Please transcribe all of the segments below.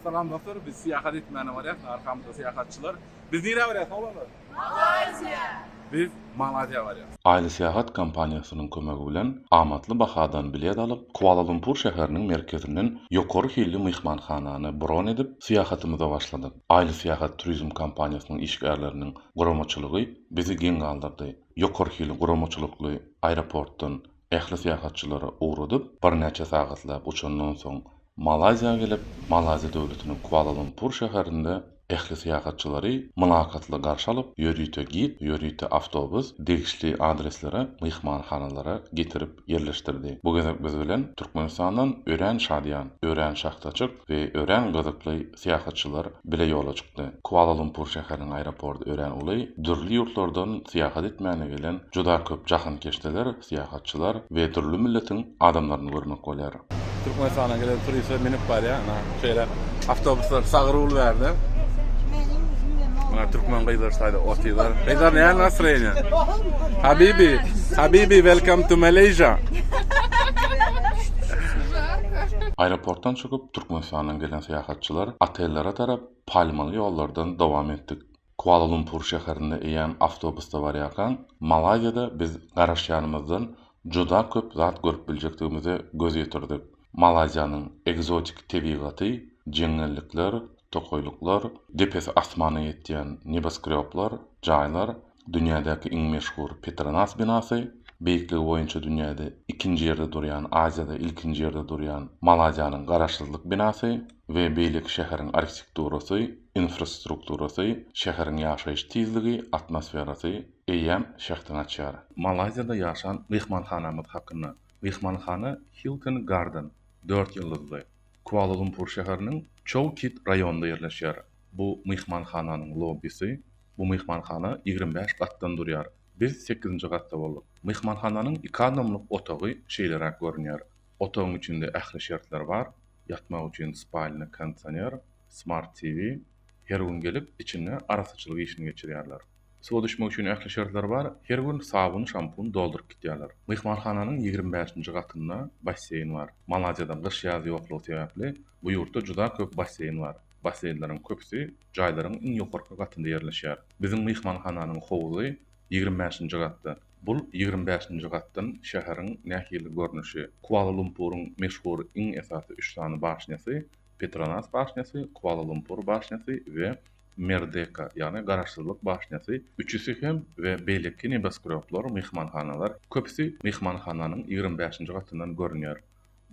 Salam dostlar, biz syýahat etmäne barýas, arkamyzda syýahatçylar. Biz nirä barýas oglanlar? Malaýziýa! Biz Malaýziýa barýas. Aýly Syýahat kompaniýasynyň kömegi bilen amatly bahadan bilet alyp, Kuala-Lumpur şäheriniň merkezinden ýokary hilli myhmanhanany bron edip, syýahatymyza başladyk. Aýly Syýahat turizm kompaniýasynyň işgärleriniň guramaçylygy bizi geň galdyrdy. Ýokary hilli guramaçylykly aeroportdan Ähli syýahatçylary ugradyp, birnäçe sagatlap uçandan soň Malaýziýa gelip, Malaýziýa döwletiniň Kuala-Lumpur şäherinde ähli syýahatçylary mylakatly garşy alyp, ýörite gid, ýörite awtobus degişli adreslere, myhmanhanalara getirip ýerleşdirdi. Bu gezek biz bilen Türkmenistandan örän şadyýan, örän şahtaçyk we örän gyzykly syýahatçylar bile ýola çykdy. Kuala-Lumpur şäheriniň aeroporty örän uly, dürli ýurtlardan syýahat etmäne gelen juda köp jahankeşdeler, syýahatçylar we dürli milletiň adamlaryny görmek bolýar. Türkmenistana gelen turistler münüp barýar, ana, şeýle awtobuslar sagyr bolup ärde. Muňa türkmen gyzlar şaýda otyrlar. Gyzlar näme nastroýeniýa? Habibi, habibi welcome to Malaysia. Aeroportdan çykyp, Türkmenistandan gelen syýahatçylar otellere tarap palmaly ýollardan dowam etdik. Kuala-Lumpur şäherinde eýýäm awtobusda barýarkaň, Malaýziýada biz garaşýanymyzdan juda köp zat görüp biljekdigimize göz ýetirdik. Malaýziýanyň ekzotik tebigaty, jeňňellikler, tokaýlyklar, depesi asmana ýetýän nebaskrýoblar, jaýlar Dünýädäki iň meşhur Petronas binasy, beýikligi boýunça dünýäde ikinji ýerde durýan, Aziýada ilkinji ýerde durýan Malazýanyň Garaşsyzlyk binasy we beýleki şäheriň arhitekturasy, infrastrukturasy, şäheriň ýaşaýyş tizligi, atmosferasy eýýäm şähdiňi açýar. Malaýziýada ýaşan myhmanhanamyz hakynda. Myhmanhana Hilton Garden, dört ýyldyzly, Kuala-Lumpur şäheriniň Chou Kit raýonynda ýerleşýär. Bu myhmanhananyň lobbisi Bu myhmanhana ýigrimi bäş gatdan durýar. Biz sekizinji gatda bolduk. Myhmanhananyň iki adamlyk otagy şeýleräk görünýär. Otagyň içinde ähli şertler bar, ýatmak üçin spalna, kondisioner, smart TV. Her gün gelip, içinde arassaçylyk işini geçirýärler. Suwa düşmek üçin ähli şertler bar, her gün sabun, şampun dolduryp gitýärler. Myhmanhananyň ýigrimi bäşinji gatynda basseýn bar. Malaziýada gyş-ýaz ýoklugy sebäpli, bu ýurtda juda köp basseýn bar. Basseýnleriň köpüsi jaýlaryň iň ýokarky gatynda ýerleşýär. Biziň myhmanhananyň howzy ýigrimi bäşinji gatda. Bul ýigrimi bäşinji gatdan şäheriň nähili görnüşi. Kuala-Lumpuryň meşhur iň esasy üç sany başnýasy, Petronas başnýasy, Kuala-Lumpur başnýasy we Merdeka, ýagny Garaşsyzlyk başnýasy, üçüsi hem we beýleki nebosgroblar, myhmanhanalar, köpüsi myhmanhananyň ýigrimi bäşinji gatyndan görünýär.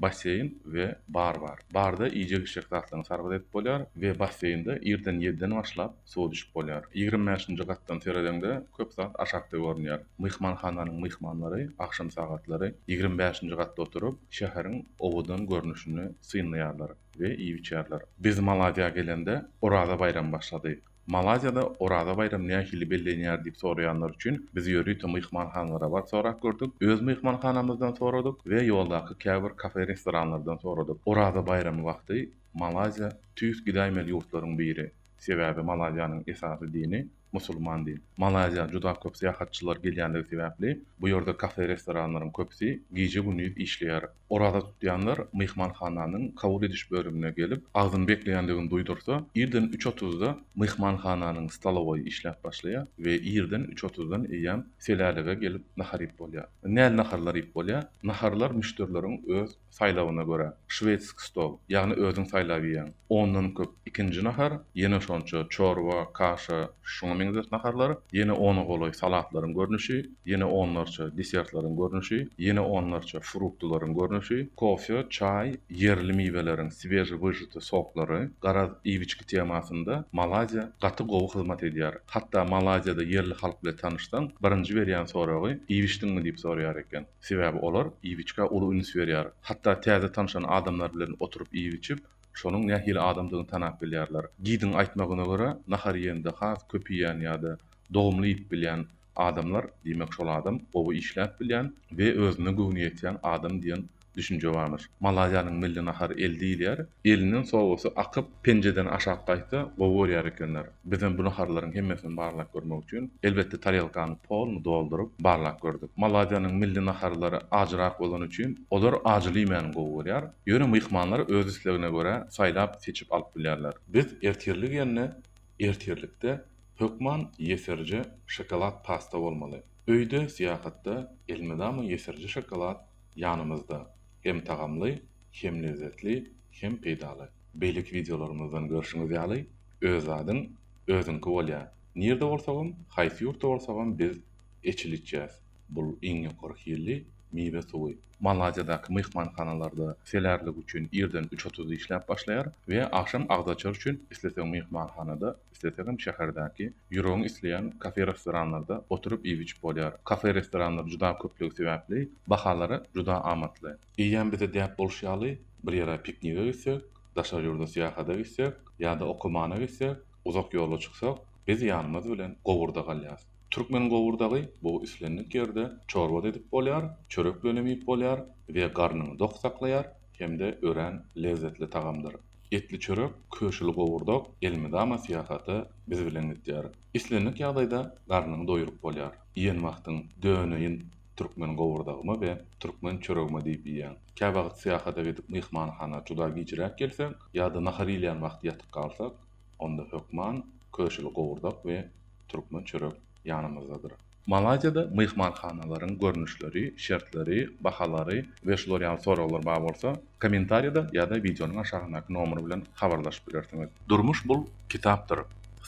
basseýn we bar bar. Barda iýjek-içjek zatlaryňy sargyt edip bolýar we basseýnde irden ýediden başlap suwa düşüp bolýar. Ýigrimi bäşinji gatdan seredeňde köp zat aşakda görünýär. Myhmanhananyň myhmanlary agşam sagatlary ýigrimi bäşinji gatda oturyp, şäheriň owadan görnüşini synlaýarlar we iýip-içýärler. Biz Maladýa gelende Oraza baýramy başlady. Malaýziýada Oraza baýramy nähili bellenýär diýip soraýanlar üçin biz ýörite myhmanhanlara baryp sorap gördük. Öz myhmanhanamyzdan soradyk we ýoldaky käbir kafe-restoranlardan soradyk. Oraza baýramy wagty Malaýziýa tüýs gidäýmeli ýurtlaryň biri. Sebäbi Malaýziýanyň esasy dini musulman din. Malaýziýa juda köp syýahatçylar gelýänligi sebäpli bu ýerde kafe-restoranlaryň köpüsi gije-gündiz işleýär. Oraza tutýanlar myhmanhananyň kabul ediş bölümine gelip, agzyny bekleýändigini duýdursa, irden üç otuzda myhmanhananyň stolowoýy işläp başlaýar we irden üç otuzdan eýýäm selälige gelip nahar iýip bolýar. Näl naharlar iýip bolýar? Naharlar müşderileriň öz saýlawyna görä, şwedski stol, ýagny özüň saýlap iýýäň. Ondan köp ikinji nahar, ýene şonça çorba, kaşa, şuňa meňzeş naharlar, ýene ona golaý salatlaryň görnüşi, ýene onlarça desertlaryň görnüşi, ýene onlarça fruktularyň görnüşi, kofe, çaý, ýerli miweleriň swežewyžity soklary, garaz, iýgiçki temasynda Malaýziýa gaty gowy hyzmat edýär. Hatda Malaýziýada ýerli halk bilen tanyşsaň, birinji berýän soragy iýgiçdiňmi diýip soraýar eken. Sebäbi olar iýgiçkä uly üns berýär. Hatda täze tanyşan adamlar bilen oturyp iýip-içip, şonuň nähili adamdygyny tanap bilýärler. Gidiň aýtmagyna görä, nahar iýende has köp iýen ýa-da dogumly iýip bilýän Adamlar, diýmek şol adam gowy işläp bilýän we özüne göwni ýetýän adam diýen düşünje barmyş. Malaýanyň milli nahary el diýilýär. Elinden sowasy akyp, penjeden aşak gaýtsa gowy görýär ekenler. Bizem bu naharlaryň hemmesini barlap görmek üçin, elbetde tarelkany poluny dolduryp, barlap gördük. Malaýanyň milli naharlary ajyrak bolany üçin, olar ajyly iýmäni gowy görýär. Ýöne myhmanlar öz islegine görä saýlap, seçip alyp bilýärler. Biz ertirligine Ertirlikde hökman ýesirje şokolad pasta bolmaly. Öýde syýahatda elmydama ýesirje şokolad ýanymyzda. Hem tagamly, hem lezzetli, hem peýdaly. Beýleki wideolarymyzdan görşüňiz ýaly, öz zadyň özüňki bolýar. Nirde bolsagam, haýsy ýurtda bolsagam biz eçil içýäs. Bul iň ýokary hilli miwe suwy. Malaziýadaky myhmanhanalarda selärlik üçin irden üç otuzda işläp başlaýar we agşam agzaçar üçin isleseň myhmanhanada, islesegem şäherdäki ýüregiň isleýän kafe-restoranlarda oturyp iýip-içip bolýar. Kafe-restoranlar juda köplügi sebäpli bahalary juda amatly. Eýýäm bize däp bolşy ýaly, bir ýere piknige gitsek, daşary ýurda syýahata gitsek ýa-da okamana gitsek, uzak ýola çyksak, biz ýanymyz bilen gowurda galýarys. Türkmen gowurdagy bu islendik ýerde çorba-da edip bolýar, çörek bilenem iýip bolýar we garnyňy dok saklaýar hem-de örän lezzetli tagamdyr. Etli çörek, köşüli gowurdak elmydama syýahata biz bilen gidýär. Islendik ýagdaýda garnyňy doýuryp bolýar. Iýen wagtyň döneýin türkmen gowurdagyma we türkmen çöregime diýip iýýäň. Käwagt syýahata gidip myhmanhana juda gijräk gelsek ýa-da nahar iýilýän wagty ýatyp galsak, Onda hökman köşeli gowurdak we türkmen çörek ýanymyzdadyr. Malaýziýada myhmanhanalaryň görnüşleri, şertleri, bahalary we şular ýaly soraglar bar bolsa, kommentariýada ýa-da wideonyň aşagyndaky nomer bilen habarlaşyp bilersiňiz. Durmuş bul kitapdyr.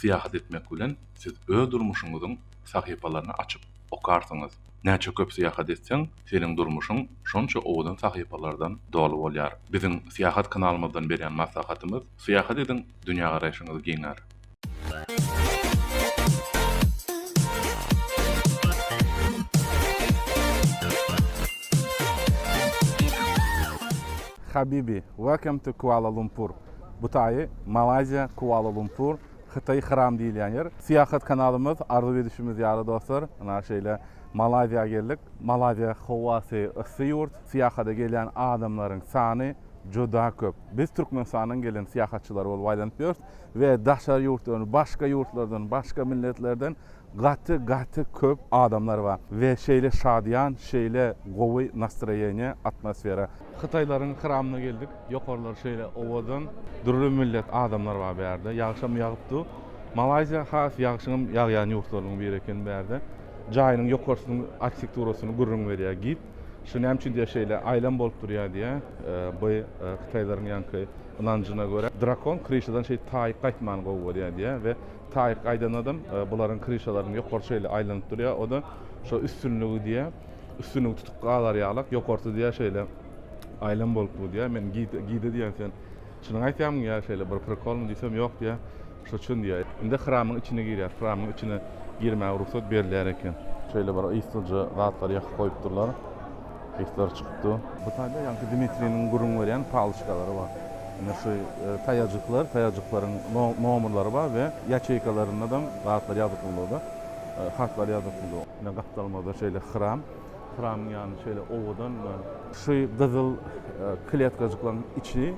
Syýahat etmek bilen siz öz durmuşyňyzyň sahypalaryny açyp okarsyňyz. Näçe köp syýahat etseň, seniň durmuşyň şonça owadan sahypalardan doly bolýar. Biziň Syýahat kanalymyzdan berýän maslahatymyz, Syýahat ediň, dünýägaraýşyňyz giňär. Habibi, welcome to Kuala Lumpur, bu taýy Malaýziýa, Kuala Lumpur. Hytaý Hyram diýilýän ýer. Syýahat kanalymyz arzuw edişimiz ýaly dostlar, ynha şeýle Malaýziýa geldik. Malaýziýa howasy yssy ýurt, syýahada gelýän adamlaryň sany juda köp. Biz Türkmenistandan gelen syýahatçylar bolup aýlanyp ýörüs we daşary ýurtdan, başga ýurtlardan, başga milletlerden gaty gaty köp adamlar bar we şeýle şadyýan, şeýle gowy nastroýeniýe, atmosfera. Hytaýlaryň kramyna geldik. Ýokarlary şeýle owadan. Dürli millet adamlar bar bu ýerde. Ýagşam ýagyp dur. Malaýziýa has ýagşyňam ýagýan ýurtlarynyň biri eken bu ýerde. Jaýynyň ýokarsynyň arhitekturasyny gürrüň berýär gid. Şu näme üçin diýýär şeýle aýlan bolup durýar diýýär. Bu hytaýlaryň ýaňky ynanjyna görä drakon kryşadan şeýdip taýyk gaýtmany gowy görýär diýýär we taýyk gaýdanadam bularyň kryşalarynyň ýokarsy şeýle aýlanyp durýar o-da şo üstünligi diýýär. Üstünligi tutup gazar ýalak, ýokarsy diýýär şeýle, Aýlam bolup bu diýýär. Men Gide, Gide diýýän sen çynyňy aýtýarmyň diýýär şeýle bir prikolmy diýsem ýok diýýär. Şo çyn diýýär. Indi hramyň içine girýär. Hramyň içine girmäge rugsat berilýär eken. Şeýle bir yslyja zatlary ýakyp goýupdyrlar. Yslar çykypdy. Bu taýda ýaňky Dmitriniň gürrüň berýän paloçkalary bar. Ine şu taýajyklar, taýajyklaryň no, nomrlary bar we ýaçeýkalarynda daň zatlar ýazyklydyr-da, hatlar ýazyklydyr. Ine gapdalymyzda şeýle hram. Hramyň ýany şeýle owadan. Şu gyzyl kletkajyklaryň içi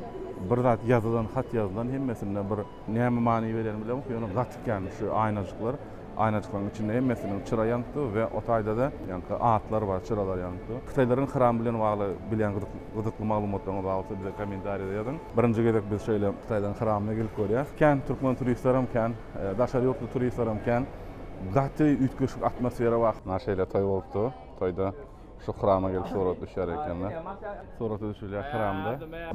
bir zat ýazylan, hat ýazylan hemmesinde bir. Näme many berýänini bilemok, ýöne gaty kän şu aýnajyklar. Aýnajyklaryň içinde hemmesiniň çyra ýanyp dur we o taýda da ýaňky atlar bar, çyralar ýanyp dur. Hytaýlaryň hram bilen bagly bilýän gyzykly maglumatlaryňyz bar bolsa bize kommentariýada ýazyň. Birinji gezek biz şeýle Hytaýlaryň hramyna gelip görýäs. Kän türkmen turistlerem kän, daşary ýurtly turistlerem kän. gaty üýtgeşik atmosfera bar. Ana şeýle toý bolupdy. Toýda şu hrama gelip surat düşýär ekenler. Surata düşülýär hramda.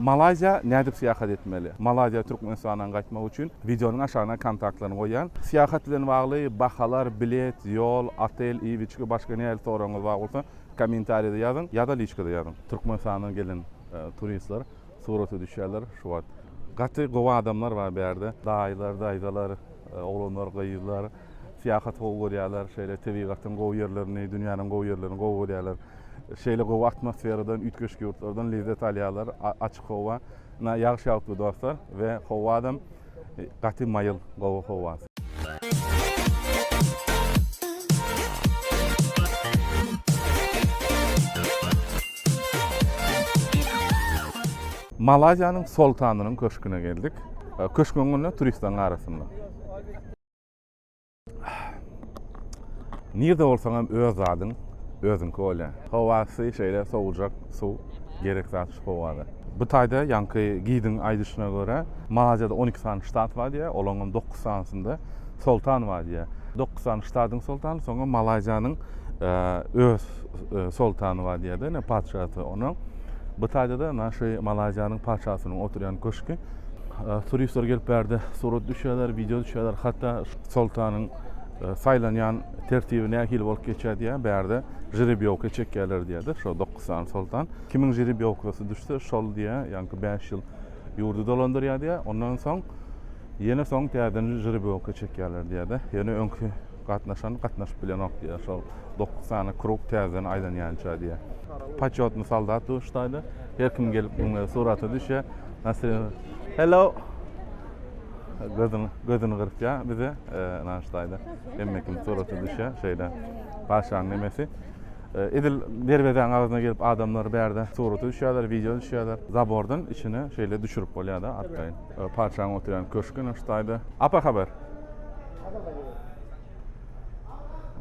Malaýziýa nädip syýahat etmeli? Malaýziýa Türkmenistandan gaýtmak üçin wideonyň aşagyna kontaktlaryny goýýan. Syýahat bilen bagly bahalar, bilet, ýol, otel, iýip-içgi, başga nähili soragyňyz bar bolsa kommentariýada ýazyň ýa-da liçkada ýazyň. Türkmenistandan gelen turistler surata düşýärler şu wagt. Gaty gowy adamlar bar bu ýerde. Daýylar, daýzalar. Oglanlar, gyzlar syýahaty gowy görýärler, şeýle tebigatyň gowy ýerlerini, dünýäniň gowy ýerlerini gowy görýärler. Şeýle gowy atmosferadan, üýtgeşik ýurtlardan lezzet alýarlar. Açyk howa, ynha ýagyş ýagypdy dostlar we howadam gaty maýyl, gowy howa. Malaýziýanyň Soltanynyň köşgüne geldik. Köşk öňünde turistleriň arasynda. Nirde bolsaň hem öz zadyň özüňki bolýar. Howasy şeýle sowujak suw gerek zat şu howada. Bu taýda ýaňky gidiň aýdyşyna görä, Malaýziýada on iki sany ştat bar diýýär, olaryň hem dokuz sanysynda soltan bar diýýär. Dokuz sany ştadyň soltany, soňra Malaýziýanyň öz soltany bar diýýär-de, ine patyşasy onuň. Bu taýda-da naşy Malaýziýanyň patyşasynyň oturýan köşki. Turistler gelip bärde surat düşýärler, wideo düşýärler. Hatda soltanyň saýlanýan tertibi nähili bolup geçýär diýýär. Bärde žrebýowka çekýärler diýýär-de, şo dokuz sany soltan. Kimiň žrebýowkasy düşse, şol diýýär, ýaňky bäş ýyl ýurdy dolandyrýar diýýär. Ondan soň ýene soň täzeden žrebýowka çekýärler diýýär-de. Ýöne öňki Gatnaşan gatnaşyp bilenok diýýär. Şol dokuz sany krug täzeden aýlanýança diýýär. Poçotnyý soldat duşdaýda. Her kim gelip muň bilen surata düşýär. Nasrin, Hello! Gözüni, gözüni gyrpýar bize nanaşdaýda. Hemme kim surata düşýär. Şeýle patyşanyň nemesi. Edil derwezäň agzyna gelip adamlar bärde surata düşýärler, wideo düşýärler. Zabordan içine şeýle düşürip bolýar-da arkaýyn. Patyşaň oturýan köşgi ine şu taýda. Apa haber.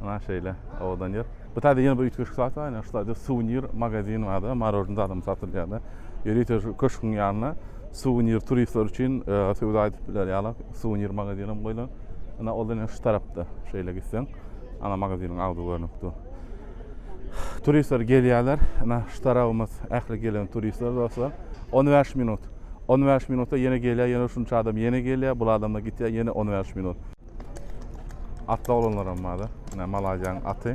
Ana şeýle owadan ýer. Bu taýda ýene bir üýtgeşik zat bar. Ine şu taýda suwenir magazin bar-da, marožni zadam satylýar-da. Ýörite şu köşgüň ýanyna suwenir turistler üçin e, söwda edip biler ýaly suwenir magazin hem goýlan. Ine ol ine şu tarapda. Şeýle gitseň, ana magaziniň agzy görnüp dur. Turistler gelýärler. Ina, şu tarabymyz ähli gelen turistler dostlar. 15 minut. 15 minutda ýene gelýär, ýene şunça adam ýene gelýär, bul adamlar gitýär, ýene 15 minut. Atly oglanlaram barda. Ina Malaýziýanyň aty.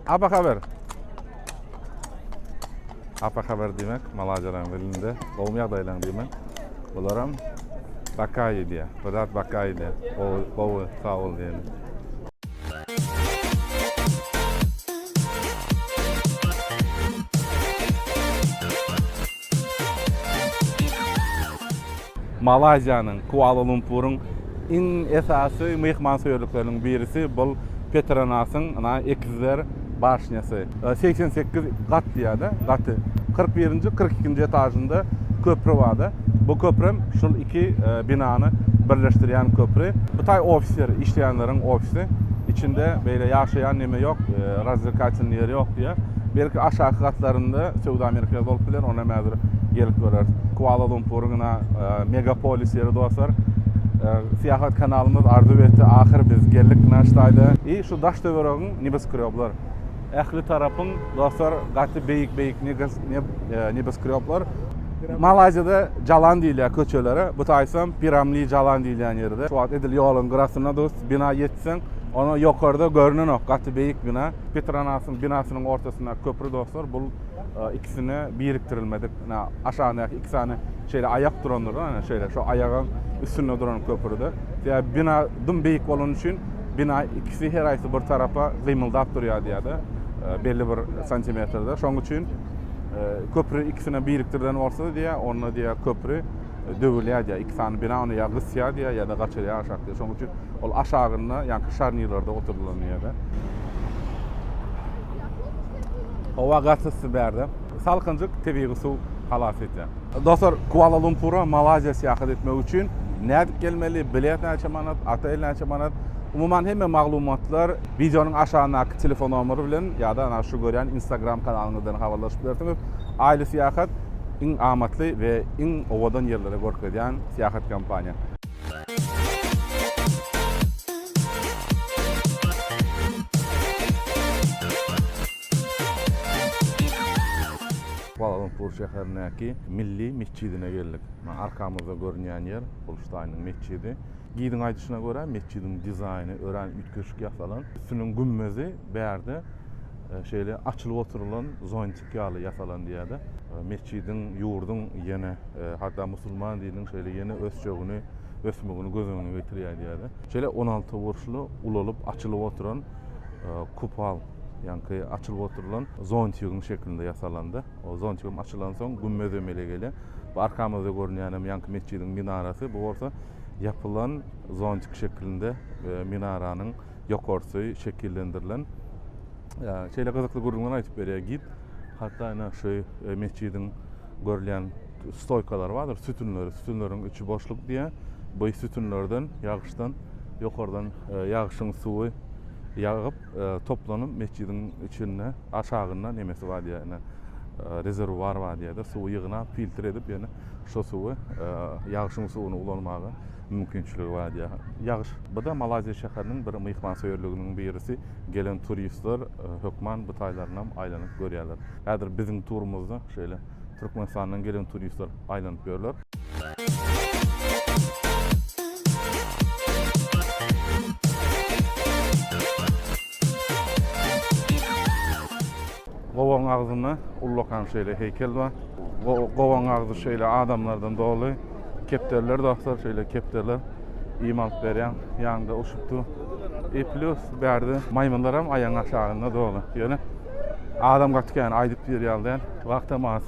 Apa haber. Apa haber diýmek, malajalaň dilinde, gowmy ýagdaýlaň diýmek. Bularam bakaýy diýýär. Bir zat bakaýy diýýär. Gowy, gowy, sag bol diýeni. Malaýziýanyň Kuala-Lumpuryň iň esasy myhmansöýerlikleriniň birisi bul Petronasyň ina ekizler başnýasy. Segsen sekiz gat diýýärda gaty. Kyrk birinji, kyrk ikinji etažynda köpri barda. Bu köprem şul iki binany birleşdirýän köpri. Bu taý ofisleri, işleýänleriň ofisi. Içinde beýle ýaşaýan neme ýok, razwlekatelnyý ýeri ýok diýýär. Belki aşaky gatlarynda söwda merkezi bolup biler, ony hem häzir gelip göreris. Kuala Lumpuryň ina megapolis ýeri dostlar. Syýahat kanalymyz arzuw etdi, ahyr biz geldik naş taýda. I şu daş töweregiň nebeskrýoblar. Ähli tarapyň dostlar gaty beýik beýik nebeskrýoblar. Malaýziýada jalan diýilýär köçelere, bu taýsam Piramli jalan diýilýän ýerde. Şu wagt edil ýoluň gyrasynda dos. bina ýetseň, ony ýokarda görnenok, gaty beýik bina. Petronasyň binasynyň ortasyndaky köpri dostlar, bul ikisine birikdirilmedik, ine, aşagyndaky iki sany şeýle aýak durandyr da, ine, şeýle, şo aýagyň üstünde duran köpri-de. Sebäbi bina dym beýik bolany üçin, bina ikisi her haýsy bir tarapa gymyldap durýar diýýär-de, belli bir santimetrde. Şonuň üçin köpri ikisine birikdirilen bolsa diýýär, onda diýýär köpri. döwülýär diýýär. Iki sany bina ony ýa gysýar diýýär, ýa-da gaçyrýar aşak diýýär. Şonuň üçin ol aşagynda, ýaňky şarnirlerde oturdylan ýerde. Howa gaty yssy bärde. Salkynjyk tebigy suw halas edýär. Dostlar, Kuala-Lumpura Malaýziýa syýahat etmek üçin nädip gelmeli, bilet näçe manat, otel näçe manat? Umuman hemme maglumatlar wideonyň aşagyndaky telefon nomeri bilen ýa-da ana şu görýän Instagram kanalyňyzdan habarlaşyp bilersiňiz. Aýly syýahat iň amatly we iň owadan ýerleri görkezýän syýahat kompaniýa. Kuala Lumpur şäherindäki Milli metjidine geldik. Maňa arkamyzda görünýän ýer, bul Ştaýnyň metjidi. Gidiň aýdyşyna görä, metjidiň dizaýny örän üýtgeşik ýasalan. Üstüniň gümmezi bärde şeýle açylyp oturylan zontiki. ýaly ýasalan diýýärdi. Metjidiň, ýurduň ýene hatda musulman dininiň şeýle ýene ösjegini, ösmegini göz öňüne getirýär diýýärdi. Şeýle on alty burçly ulalyp açylyp oturan kupal, ýaňky açylyp oturylan zontigiň şeklinde ýasalandy. O zontigem açylansoň gümmez emele gelýär. Bu arkamyzda görünýänem ýaňky metjidiň minarasy, bu bolsa ýapylan zontik şeklinde minaranyň ýokarsy şekillendirilen. Şeýle gyzykly gürrüňler aýdyp berýär gid. Hatda ine şu e, metjidiň görülýän stoýkalary bardyr, sütünleri. Sütünleriň içi boşluk diýýär. Bu sütünlerden ýagyşdan ýokardan e, ýagyşyň suwy ýagyp, e, toplanyp metjidiň içinde aşagynda nemesi bar diýýär. Ine rezerwuar bar diýýär-de, suwy ýygnap, filtr edip, ýöne şu suwy ýagyşyň suwuny ulanmaga mümkinçiligi bar diýýär. Ýagyş. Bu-da Malaýziýa şäheriniň bir myhmansöýerliginiň birisi. Gelen turistler hökman bu taýlarynam aýlanyp görýärler. Häzir biziň turumyzda şeýle Türkmenistandan gelen turistler aýlanyp ýörler. Gowagyň agzynda ullakan şeýle heýkel bar. Gowagyň agzy şeýle adamlardan doly. Kepderiler dostlar, şeýle kepderiler iým alyp berýän. Ýanyňda uşupdy. I plus bärde maýmynlar hem aýagyň aşagynda doly. Ýöne adam gaty kän, aýdyp diýer ýaly däl. Wagt hem az.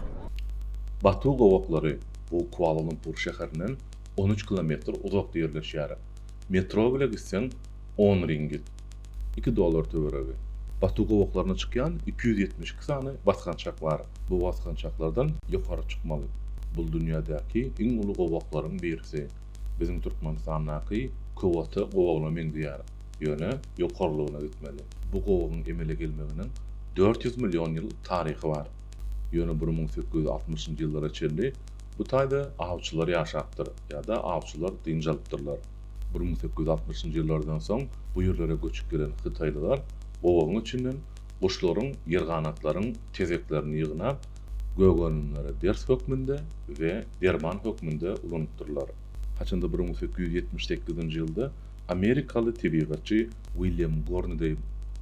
Batu gowaklary, bu Kuala-Lumpur şäherinden on üç kilometr uzakda ýerleşýär. Metro bile gitseň on ringgit. iki dollar töweregi. Batu gowaklarynda çykýan iki ýüz ýetmiş iki sany basgançak bar. Bu basgançaklardan ýokary çykmaly. Bul dünýädäki iň uly gowaklaryň birisi. Biziň Türkmenistandaky Kowata gowagyna meňzeýär. Ýöne ýokarlygyna gitmeli. Bu gowagyň emele gelmeginiň dört ýüz million ýyl taryhy bar. Ýöne bir müň sekiz ýüz altmyşynjy ýyllara çenli bu taýda awçylar ýaşapdyr ýa-da awçylar dynç alypdyrlar. Bir müň sekiz ýüz altmyşynjy ýyllardan soň bu ýerlere göçüp gelen hytaýlylar gowagyň içinden guşlaryň, ýerganatlaryň tezeklerini ýygnap, gögerenimlere ders hökmünde we derman hökmünde ulanypdyrlar. Haçanda bir müň sekiz ýüz ýetmiş sekizinji ýylda amerikaly tebigatçy William Gornidey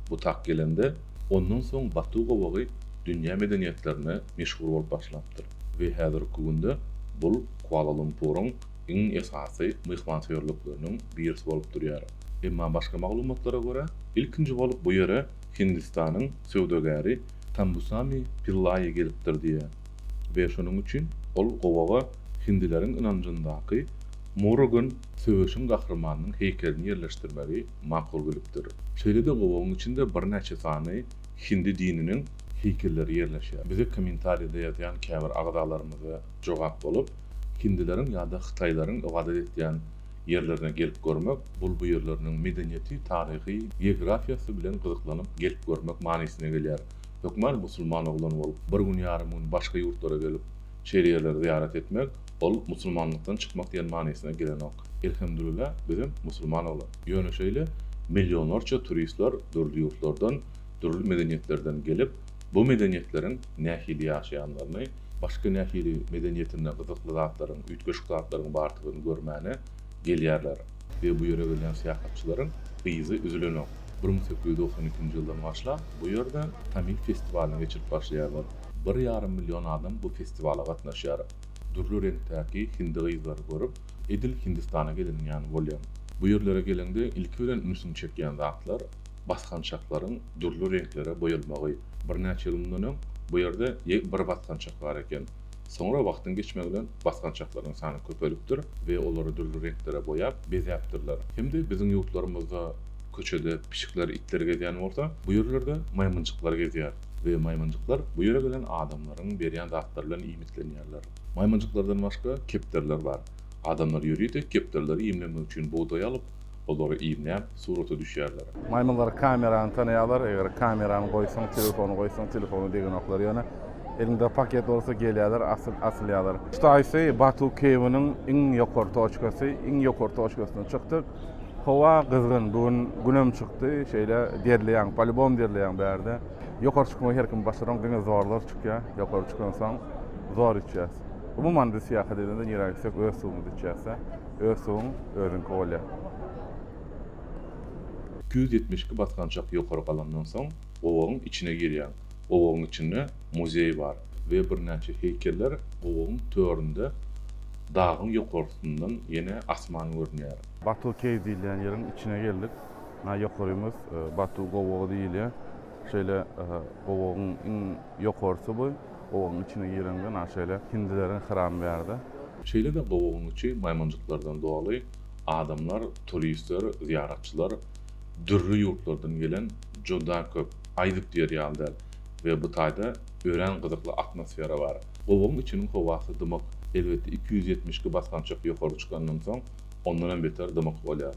butak gelende, ondan soň Batu gowagy dünýä medeniýetlerine meşhur bolup başlapdyr we häzirki günde bul Kuala-Lumpuryň iň esasy myhmansöýerlikleriniň birisi bolup durýar. Emma başga maglumatlara görä, ilkinji bolup bu ýere Hindistanyň söwdagäri Tambusami Pillaýy gelipdir diýýär we şonuň üçin ol gowaga hindileriň ynanjyndaky Murugan söweşiň gahrymanynyň heýkelini ýerleşdirmegi makul bilipdir. Şeýle-de gowagyň içinde birnäçe sany hindi dininiň heýkelleri ýerleşýär. Bize kommentariýada ýazýan käbir agzalarymyza jogap bolup, hindileriň ýa-da hytaýlaryň ybadat etýän ýerlerine gelip görmek, bul bu ýerleriniň medeniýeti, taryhy, geografiýasy bilen gyzyklanyp gelip görmek manysyna gelýär. Hökman musulman oglan bolup, bir gün ýarym gün başga ýurtlara gelip, şeýle ýerleri zyýarat etmek, ol musulmanlykdan çykmak diýen manysyna gelenok. Elhemdülillah, bizem musulman oglan. Ýöne şeýle millionlarça turistler dürli ýurtlardan, dürli medeniýetlerden gelip, bu medeniýetleriň nähili ýaşaýanlaryny, Başga nähili medeniýetinde gyzykly zatlaryň, üýtgeşik zatlaryň bardygyny görmäne gelýärler we bu ýere gelýän syýahatçylaryň yzy üzülenok. Bir müň sekiz ýüz togsan ikinji ýyldan başlap bu ýerde Tamil festiwalyny geçirip başlaýarlar. Bir ýarym million adam bu festiwala gatnaşýar. Dürli reňkdäki hindi gyzlary görüp, edil Hindistana geleniň ýaly bolýaň. Bu ýerlere geleňde ilki bilen ünsüňi çekýän zatlar, basgançaklaryň dürli reňklere boýalmagy. Birnäçe ýyl mundan öň bu ýerde ýek bir basgançak bar eken. Soňra wagtyň geçmegi bilen basgançaklaryň sany köpelipdir we olary dürli reňklere boýap, bezäpdirler. Hem-de biziň ýurtlarymyzda köçede pişikler, itler gezýän bolsa, bu ýerlerde maýmynjyklar gezýär we maýmynjyklar bu ýere gelen adamlaryň berýän zatlary bilen iýmitlenýärler. Maýmynjyklardan başga kepderiler bar. Adamlar ýörite kepderileri iýmlemek üçin bugdaý alyp, olary iýmläp, surata düşýärler. Maýmynlar kamerany tanaýarlar, eger kamerany goýsaň, telefony goýsaň, telefony degenoklar ýöne elinde paket bolsa gelýärler, asyl, asylýarlar. Kutaýsy, Batu Keýwiniň iň ýokary toçkasy, iň ýokary toçkasyna çykdyk. Howa gyzgyn, bu gün günem çykdy, şeýle derleýäň, polibom derleýäň bärde. Ýokary çykmagy her kim başaranok, diňe zorlar çykýar, ýokary çykansoň zor içýäs. Umuman biz syýahat edende nirä gitsek öz suwumyzy içýäs-de. Öz suwuň özüňki bolýar. Iki ýüz ýetmiş iki basgançak ýokary galandan soň, gowagyň içine girýäň. Gowagyň içinde muzeý bar we birnäçe heýkeller gowagyň töründe dagyň ýokarsyndan ýene asman görünýär. Batu Cave diýilýän ýeriň içine geldik. Nä ýokarymyz Batu gowagy diýilýär. Şeýle gowagyň iň ýokarsy bu. Gowagyň içine gireňde naşeýle hindileriň hyram bärde. Şeýle-de gowagyň içi maýmynjyklardan doly, adamlar, turistler, zyýaratçylar, dürli ýurtlardan gelen juda köp, aýdyp diýer ýaly däl we bu taýda örän gyzykly atmosfera bar. Gowagyň içiniň howasy dymyk, elbetde iki ýüz ýetmiş iki basgançak ýokary çykandan soň ondan hem beter dymyk bolýar.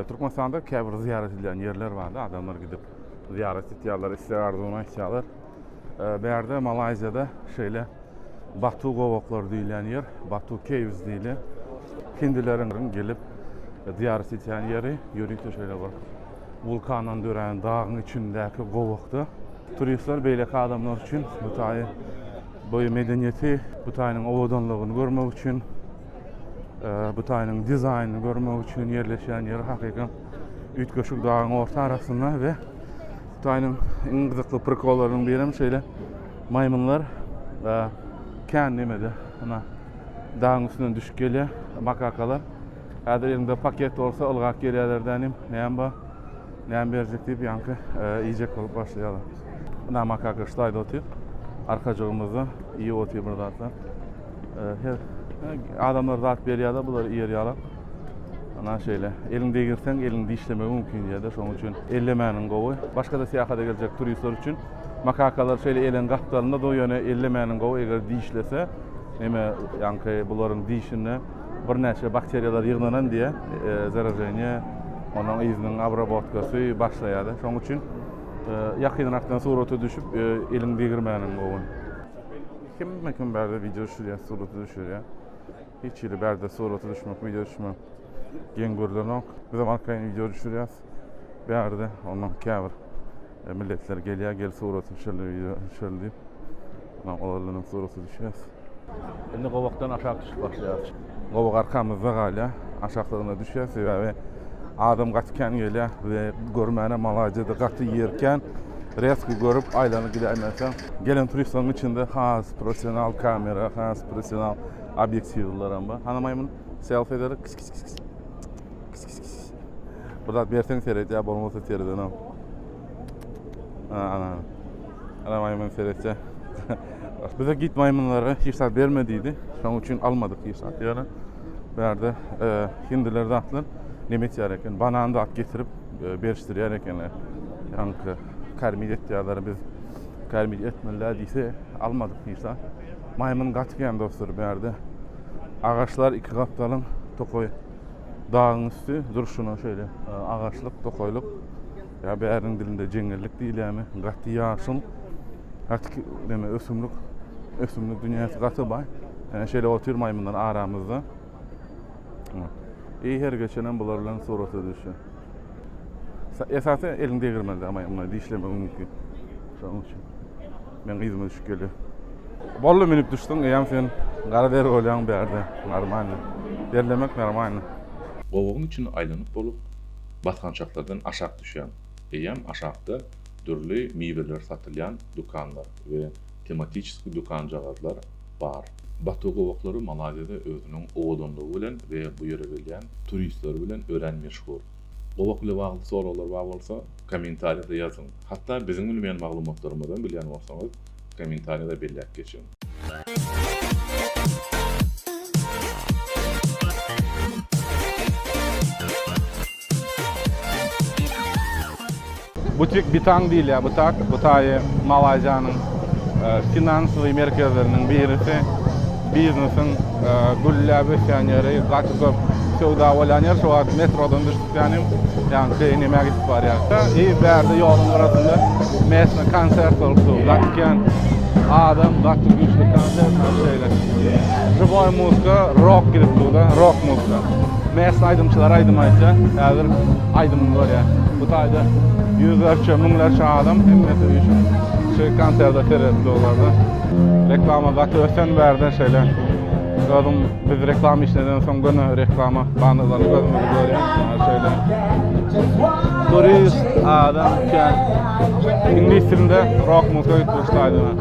Türkmenistanda käbir zyýarat edilýän ýerler bardy, adamlar gidip zyýarat etýärler, isleg-arzuwyny aýtýarlar. Bärde Malaýziýada şeýle Batu gowaklary diýilýän ýer, Batu Caves diýilýär. Hindileriň gelip zyýarat etýän ýeri, ýörite şeýle bir wulkandan dörän dagyň içindäki gowakda. Turistler beýleki adamlar üçin Butaýy, bu medeniýeti, Butaýynyň owadanlygyny görmek üçin, Butaýynyň dizaýnyny görmek üçin ýerleşýän ýer hakykam üýtgeşik dagyň orta arasynda we Hytaýyň iň gyzykly prikollarynyň biri hem şeýle maýmynlar e, kän nemede, ana dagyň üstünden düşüp gelýär makakalar. Häzir elinde paket bolsa ylgap gelýärler dänim, näme bar, näme berjek diýip ýaňky e, iýjek bolup başlaýarlar. Ana makaka şu taýda otyr, arkajygymyzda iýip otyr bir zatlar. E, her e, adamlar zat berýärler, bular iýer ýalak. Ana şeýle. Eliň degirseň, eliň dişlemegi mümkin ýerde. Şonuň üçin ellemäniň gowy. Başga-da syýahata geljek turistler üçin makakalar şeýle eliň gapdalynda dur, ýöne ellemäniň gowy. Eger dişlese, neme, ýaňky bularyň dişinde birnäçe bakteriýalar ýygnanan diýýär. E, zaraženiýe, onuň yzynyň abrabotkasy başlaýar. Şonuň üçin e, ýakynrakdan surata düşüp, e, eliň degirmäniň gowy. Kim-kim bärde wideo düşürýär, surata düşürýär. Hiç hili bärde surata düşmek, wideo düşmek geň görlenok. Bizem arkaýyn wideo düşürýäs. Bärde ondan käbir e, milletler gelýär, gel surata düşerli, wideo düşerli diýip. Ondan olar bilen surata düşýäs. Indi gowakdan aşak düşüp başlaýarys. Gowak arkamyzda galýar. Aşaklygyna düşýär, sebäbi adam gaty kän gelýär. Bize görmäne malajedy gaty ýerkän. Reski görüp aýlanyp gidäýmäse. Gelen turistleriň içinde has professional kamera, has professional Obýektiwlaram bar. Hana maýmyn selfie ederek. Kis kis kis kis. Kis kis kis. Bir zat berseň seredýär, bolmasa seredenem. Ha, ana. Ana maýmyn seretýär. Bize git maýmynlara hiç zat berme diýdi. Şonuň üçin almadyk hiç zat ýöne. Bu ýerde e, hindiler zatlar neme etýär eken? Banan zat getirip e, berişdirýär ekenler. Ýaňky Karmit etýärler biz. Karmit etmeliler diýse almadyk diýse. Maýmyn gaty kän dostlar bärde. Agaçlar iki gapdalyň tokaý dagyň üstü durşuna şöyle e, agaçlyk tokaýlyk. Ya bäriň dilinde jeňellik diýilýärmi? Gaty ýaşyl. Gaty neme ösümlik. Ösümlik dünýäsi gaty baý. Yani şöyle otur maymynlar aramızda. İyi her geçenem bular bilen surata düşüyor. Esasy eliň degirmende ama ýa dişlemegiň mümkin. Şonuň üçin men gyzyma düşüp gelýär. Bolly minip düşdüň, eýäm sen gara deri bolýaň bärde. Normalny. Derlemek normalny. Gowagyň içini aýlanyp bolup, basgançaklardan aşak düşýäň. Eýäm aşakda dürli miweler satylýan dükanlar we tematiçeski dükanjagazlar, bar. Batu gowaklary Malaýziýada özüniň owadanlygy bilen we bu ýere gelýän turistleri bilen örän meşhur. Gowak ile bagly soraglar bar bolsa, kommentariýada ýazyň. Hatda biziň bilmeýän maglumatlarymyzam bilýän bolsaňyz, kommentariýada belläp geçiň. Butik Bitang diýilýär. Butak, Butaýy Malaýziýanyň finansowy merkezleriniň birisi. Biznesiň gülläp ösýän ýeri, gaty köp söwda bolýan ýer. Şu wagt metrodan düşdüklenim, ýagny çeýe iýmäge gidip barýarka, i bärde ýoluň gyrasynda mesne konsert bolup dur. Gaty kän adam, gaty güýçli konsert, şeýle. Žiwoý muzka, rok gidip dur-da, rok muzka. Mest aýdymçylar aýdym aýtsa, häzir aýdymyny görýä. Bu taýda ýüzlerçe, müňlerçe adam hemmesi üýşüp şu konserde seredip durlardy. Reklama gaty ösen bärde şeýle. Özüm biz reklama işleden soň göni reklama bannerlerini gözümizi görýän. Şeýle. Turist adam kän. Iňlis dilinde rock muzika gitmişdi aýdyma.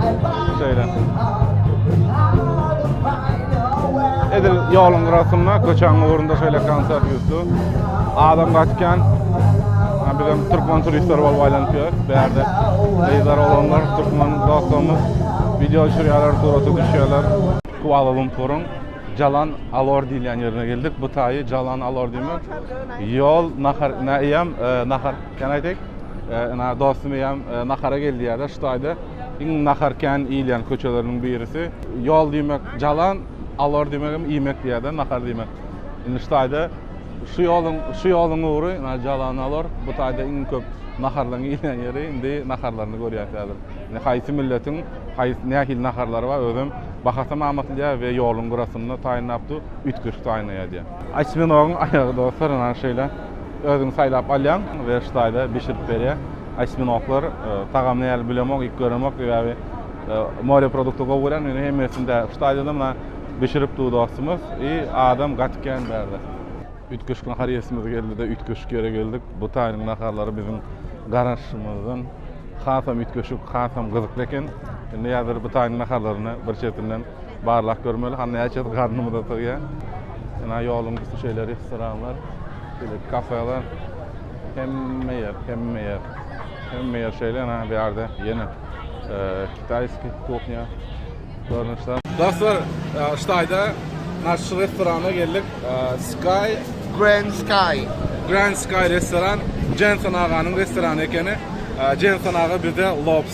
Şeýle. Edil ýoluň gyrasynda, köçäň ugrunda şeýle konsert ýüzdi. Adam gaçkän, bizem türkmen turistler bolup aýlanyp ýörüs. Bärde gyzlar, oglanlar, türkmen dostlarymyz wideo düşürýärler, surata düşýärler. Kuala-Lumpuryň Jalan Alor diýilýän ýerine geldik. Bu taýy Jalan Alor diýmek, ýol, nahar, nä eýýäm, nahar, can I take? Ina dostum eýýäm nahara gel diýýärler şu taýda. Iň nahar kän iýilýän köçeleriniň birisi. Ýol diýmek jalan, alor diýmek hem iýmek diýýärdi, nahar diýmek. Indi şu taýda şu ýoluň, şu ýoluň ugry jalan, alor. Bu taýda iň köp naharlaryň iýilýän ýeri. Indi naharlaryny görýäs häzir. Indi haýsy milletiň haýsy nähili naharlary bar, özem bahasam amatlyja we ýoluň gyrasynda taýynlapdy, üýtgeşik taýynlaýardy. Osminogyň aýagy dostlar, ynha şeýle. Özüň saýlap alýaň, werkstaýda bişirip berýär. Osminoklar tagamy nähili bilemok, iýip göremok, sebäbi more produkty gowy görýän, indi hemmesini däl. Ştaýda-da muny bişiripdi bu dostumyz i adam gaty kän bärde. Üýtgeşik nahar iýesimiz geldi-de, üýtgeşik ýere geldik. Bu taýynyň naharlary biziň garaşymyzdan hasam üýtgeşik, hasam gyzykly eken. Indi häzir bu taýynyň naharlaryny bir çetinden Barlap görmeli, ha näçesi garnymyza sygýar. Ina ýoluň üsti şeýle restoranlar, şeýle kafeler. Hemme ýer, hemme ýer. Hemme ýer şeýle, ina bu ýerde ýene e, kitaýski kuhnya görnüşler. Dostlar, e, Ştaýda naş restorana geldik. E, Sky Grand Sky. Grand Sky restoran Jensen aganyň restorany ekeni. E, Jensen aga bizde lobster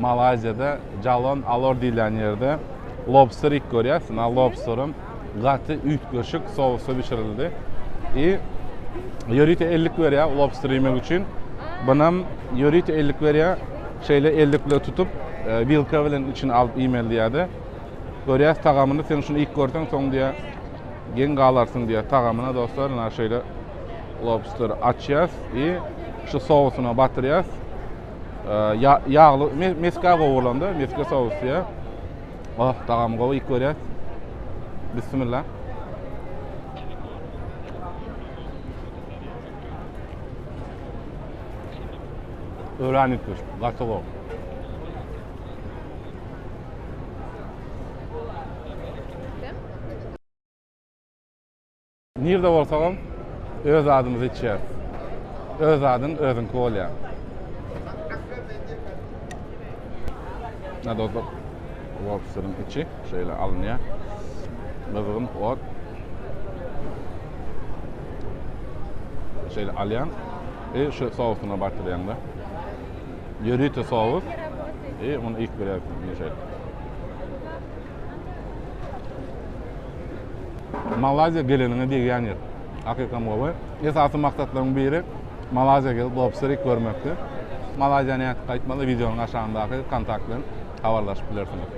Malaýziýada Jalon Alor diýilýän ýerde lobster iýip görýäs. Ýa lobsterim gaty üýtgeşik sousda bişirildi. I ýörite ellik berýär lobster iýmek üçin. Bunam ýörite ellik berýär. Şeýle ellik bilen tutup, e, wilka bilen içini alyp iýmeli diýýärdi. Görýäs tagamyny, sen şuny iýip görseň, soň diýýär, geň galarsyň diýýär tagamyna dostlar. Ina şeýle lobster açýas i şu sousyna batyrýas. Ýagly, meskä gowy bolanda, meskä sous diýä. Oh, tagamy gowy ilk görýär. Bismillah. Öwrän ilk görüş, gaty gowy. Nirde bolsagam öz zadymyzy içýäris. Öz zadyň özüňki bolýar. Nado bak. Lobsteriň içi şeýle alynýar. Gyzgyn ot. Şeýle alýan. E şu sousuna batyrýan da. Ýörite sous. E onu ilk birer şeýle. Malaziýa geleniňe degýän ýer. Hakykam gowy. Esasy maksatlaryň biri Malaziýa gelip lobsterik görmekdi. Malaziýa nädip gaýtmaly wideonyň aşagyndaky kontakt bilen habarlaşyp bilersiňiz.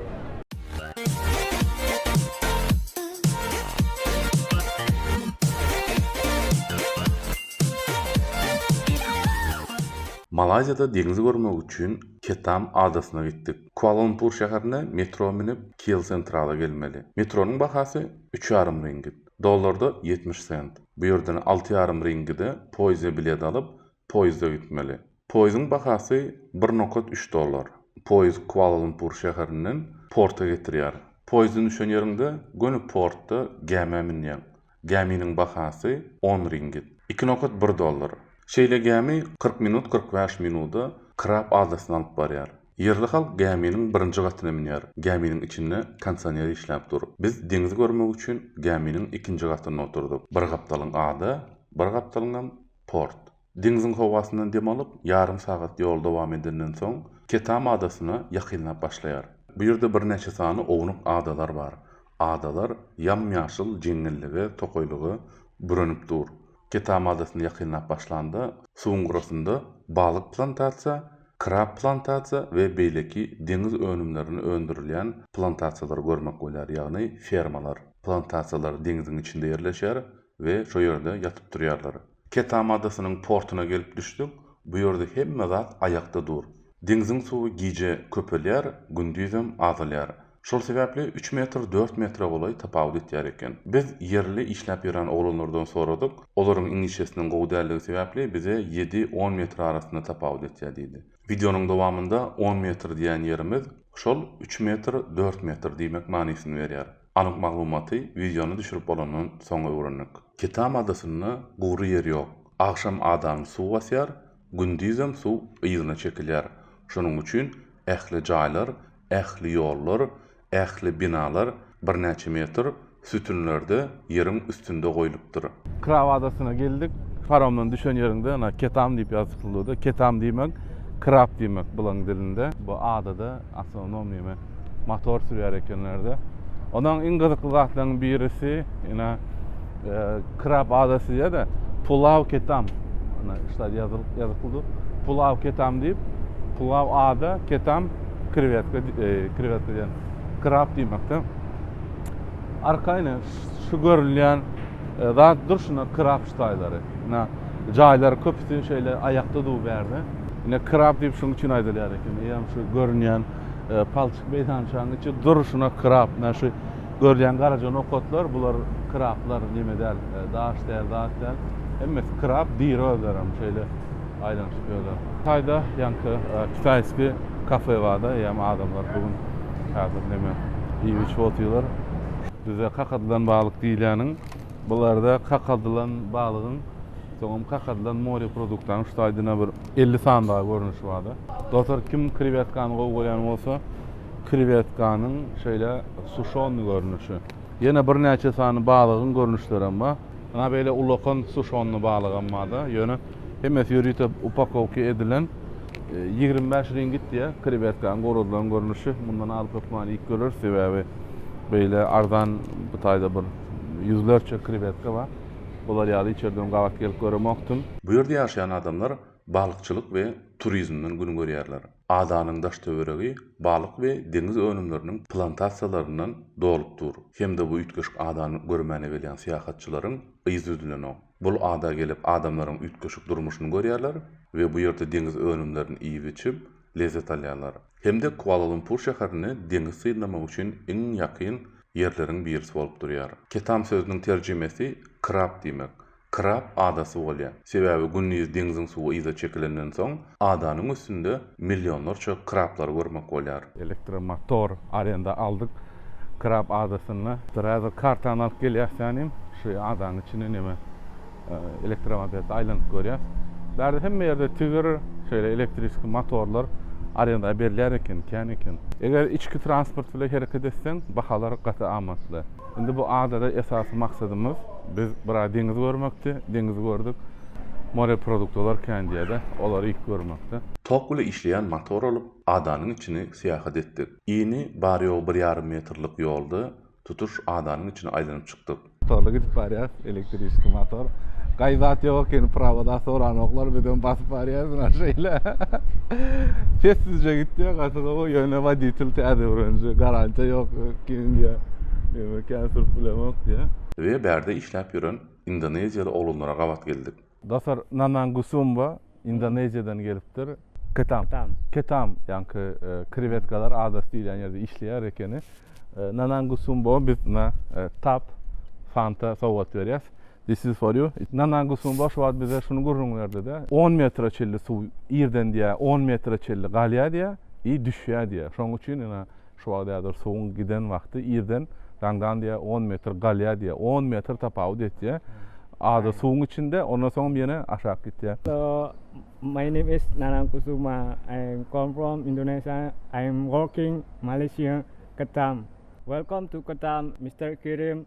Malaziýada deňzi görmek üçin Ketam adasyna gitdik. Kuala-Lumpur şäherine metro münüp, Kiel Centrala gelmeli. Metronyň bahasy üç ýarym ringgit, dollarda ýetmiş sent. Bu ýerden alty ýarym ringgide poýizde bilet alyp, poýizde gitmeli. Poýiziň bahasy bir nokat üç dollar. Poýiz Kuala-Lumpur şäherinden porta getirýär. Poýizden düşen ýeriňde göni portda gämä münýäň. Gäminiň bahasy on ringit, iki nokat bir dollar. Şeýle gämi kyrk minut kyrk bäş minuda Krab adasyna alyp barýar. Ýerli halk gäminiň birinji gatyna münýär. Gäminiň içinde konsioner işläp dur. Biz deňizi görmek üçin gäminiň ikinji gatynda oturdyk. Bir gapdalyň ada, bir gapdalyňam port. Deňziň howasyndan dem alyp, ýarym sagat ýol dowam edenden soň, Ketam adasyna ýakynlap başlaýar. Bu ýerde birnäçe sany ownuk adalar bar. Adalar ýam-ýaşyl jeňňellige, tokaýlyga bürenip dur. Ketam adasyna ýakynlap başlanda, suwuň gyrasynda balyk plantasiýa, krab plantasiýa we beýleki deňiz önümlerini öndürilýän plantasiýalary görmek bolýar, ýagny fermalar. Plantasiýalar deňziň içinde ýerleşýär we şo ýerde ýatyp-turýarlar. Ketam adasynyň portuna gelip düşdük, bu ýerde hemme zat aýakda dur. Deňziň suwy gije köpelýär, gündizem azalýar. Şol sebäpli üç metr dört metre golaý tapawut etýär eken. Biz ýerli işläp ýören oglanlardan soradyk, olaryň iňişesiniň gowy däldigi sebäpli bize ýedi on metr arasynda tapawut etýär diýdi. Wideonyň dowamynda on metr diýýän ýerimiz şol üç metr dört metr diýmek manysyny berýär. Anyk maglumaty wideony düşürip bolandan soň öwrendik. Kitam adasynda gury ýer ýok. Agşam adany suw basýar, gündizem suw yzyna çekilýär. Şonuň üçin ähli jaýlar, ähli ýollar, ähli binalar birnäçe metr sütünlerde ýeriň üstünde goýlupdyr. Krab adasyna geldik. Paromdan düşen ýeriňde ýene Ketam diýip ýazypdyr, Ketam diýmek, krab diýmek bularyň dilinde. Bu adada Awtonom ýeme motor sürýär ekenlerde. Onuň iň gyzykly zatlarynyň birisi, ýene e, krab ada sizýär-de, pulaw ketam. Ana, işte ýazylyp ýazyklydy. Pulaw ketam diýip, pulaw ada, ketam krewetka, e, krewetka diýen krab diýmekde. Arkaýyn şu görülýän e, zat durşuna krab ştaýlary. Ina, jaýlary köpüsi şeýle aýakda dur bärde. Ine, krab diýip şunuň üçin aýdylýar eken. Eýýäm şu görünýän palçyk meýdançanyň içi durşuna krab. Menä şu görülýän garaja nokatlar, bular krablar, neme däl, daş däl, zat däl. Hemmesi krab, diri özlerem şeýle aýlanyşyp ýörler. Taýda ýaňky kitaýski kafe bar-da, eýýäm adamlar bu gün häzir neme iýip-içip otyrlar. Bizde kakadylan balyk diýilýäniň. Bularda kakadylan balygyň, soňam kakadylan moreproduktanyň şu taýdana bir elli sany dagy görnüşi bar-da. Dostlar, kim krewetkany gowy görýän bolsa, krewetkanyň şeýle suşonnyý görnüşi, ýene birnäçe sany balygyň görnüşlerem bar. Ynha, beýle ulakan suşonnyý balygam bar-da. Ýöne hemmesi ýörite upakowka edilen. Ýigrimi bäş ringit diýýär krewetkanyň guradylan görnüşi. Mundan alyp hökmany iýip göreris, sebäbi beýle arzan bu taýda bir. Ýüzlerçe krewetka bar. Olar ýaly içerden gabat gelip göremokdym. Bu ýerde ýaşaýan adamlar balykçylyk we turizmden gün görýärler. Adanyň daş-töweregi balyk we deňiz önümleriniň plantasiýalaryndan dolup dur hem-de bu üýtgeşik adany görmäne gelýän syýahatçylaryň yzy üzülenok. Bul ada gelip adamlaryň üýtgeşik durmuşyny görýärler we bu ýerde deňiz önümlerini iýip-içip, lezzet alýarlar. Hem-de Kuala-Lumpur şäherini deňiz synlamak üçin iň ýakyn ýerleriň birisi bolup durýar. Ketam sözüniň terjimesi krab diýmek. Krab adasy bolýar. Sebäbi gündiz deňziň suwy yza çekilenden soň, Adanyň üstünde millionlarça krablary görmek bolýar. Elektromotor arenda aldyk krab adasynda. Dräzer kartany alyp gelýäs tänim. Şu adanyň içinde neme elektromobelt aýlanyp görýäs. Bärde hemme ýerde tigr şeýle elektriski motorlar arenda berilýär eken, kän eken. Eger içki transport bilen hereket etseň, bahalar gaty amatly. Indi bu adada esasy maksadymyz biz biraz deňiz görmekdi. Deňizi gördük. Moreproduktolar kän diýerler. Olary iýip görmekdi. Tok bile işleýän motor alyp, adanyň içini syýahat etdik. Yny bary-ýogy bir ýarym metrlik ýolda tutuş adanyň içini aýlanyp çykdyk. Torly gidip barýarys. Elektriski motor. Gaý zat ýok eken, prawoda soranoklar, bizem basyp barýarys men şeýle. Sessizje gitýär, gatyga o ýöne woditel täze öwrenje, garantiýa ýok kimin diýär. Ýöne kän sürüp bilemok diýär. Bize bärde işläp ýören indoneziýaly oglanlara gabat geldik. Dostlar, Nanang Gusumba Indoneziýadan gelipdir. Ketam. Ketam, ýaňky krewetkalar adas diýilýän ýerde işleýär ekeni. Nanang Gusumba biz na tap fanta sowgat berýäs. This is for you. Nanang Gusumba şu wagt bize şuny gürrüň berdi-de, on metre çenli suw irden diýä on metre çenli galýar diýä, i düşýär diýä. Şonuň üçin ina Şu wagt häzir suwuň giden wagty irden daňdan diýä on metr galýa diýä on metr tapawut etýä azy suwuň içinde ondan soňam ýene aşak gitýä. So my name is Nanang Kusuma I come from Indonesia I am working Malaysia Ketam welcome to Ketam Mister Kerim.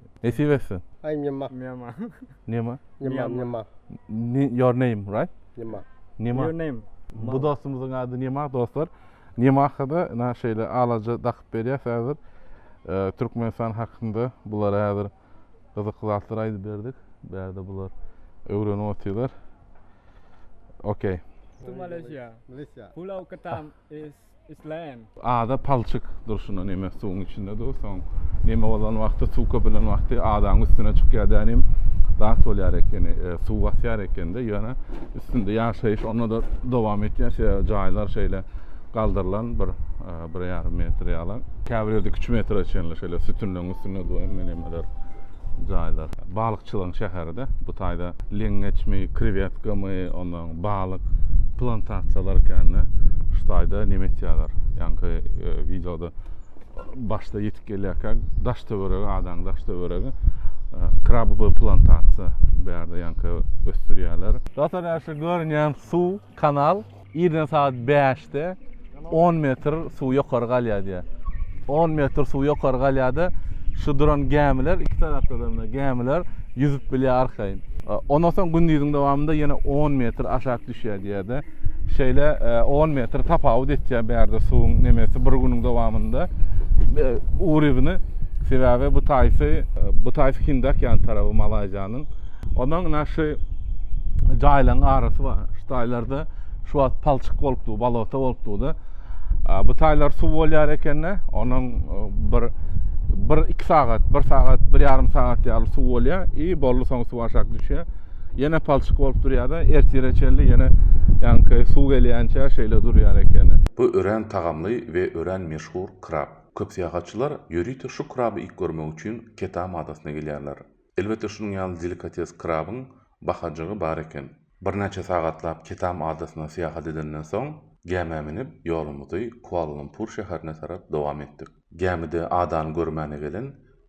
Nesip etsin. Ay Nima. Nima. Nima. Nima. Nima. Your name, right? Nima. Nima. Your name. Bu dostumuzun adı Nima dostlar. Nima hakada na şeyle alaca dakıp berýär hazır. E, Türkmenistan hakkında bular hazır gyzykly zatlar aýdyp berdik. Bärde bular öwrenip otyrlar. Okay. To Malaysia. Malaysia. Pulau Ketam is isleýän. Ada palçyk durşuna neme suwuň içinde dur, soň neme bolan wagty, suw köpelen wagty adaň üstüne çykýar dä nim zat bolýar ekeni, e, suw basýar ekende, ýöne üstünde ýaşaýyş onda-da dowam etýär, sebäbi jaýlar şeýle galdyrylan bir, e, bir ýarym metr ýaly. Käbir ýerde iki-üç metre çenli şeýle sütünleriň üstünde dur, emeli nemeler. jaýlar. Balykçylygyň şäheri-de. Bu taýda leňňeçmi, krewetkamy, ondan soň balyk plantasiýalary ekeni. Şu taýda neme etýärler? Ýaňky wideoda başda ýetip gelýärkä daş-töweregi, adanyň daş-töweregi krabowy plantasiýa. Bu ýerde ýaňky ösdürýärler. Dostlar, ýa şu görünýän suw Kanal irden sagat bäşde on metr suw ýokary galýar diýýär. On metr suw ýokary galýar-da, şu duran gämiler, iki tarapda-da gämiler ýüzüp bilýär arkaýyn. Ondan soň gündiziň dowamynda ýene on metr aşak düşýär diýýär-de. Şeýle on metr tapawut etýär bärde suwuň nemesi bir günüň dowamynda urybyny. Sebäbi bu taýpy, bu taýpy Hindiokýan taraby Malaýziýanyň. Ondan ina şu jaýlaryň arasy bar. Şu taýlarda şu wagt palçyk bolupdy, balota bolupdy. Bu taýlar suw bolýar ekende, onuň e, bir bir iki sagat, bir sagat, bir ýarym sagat ýaly suw bolýar. I bolly soň suw aşak düşýär. Ýene palçyk bolup durýar-da, ertire çelli ýene ýanky suw gelýänçä şeýle durýar ekeni. Bu örän tagamly we örän meşhur krab. Köp syýahatçylar ýörite şu kraby iýip görmek üçin Ketam adasyna gelýärler. Elbetde şunuň ýaly delikates krabyň bahajygy bar eken. Birnäçe sagatlap Ketam adasyna syýahat edenden soň, gämä münüp, ýolumyzy Kuala-Lumpur şäherine tarap dowam etdik. Gämide adany görmäne gelen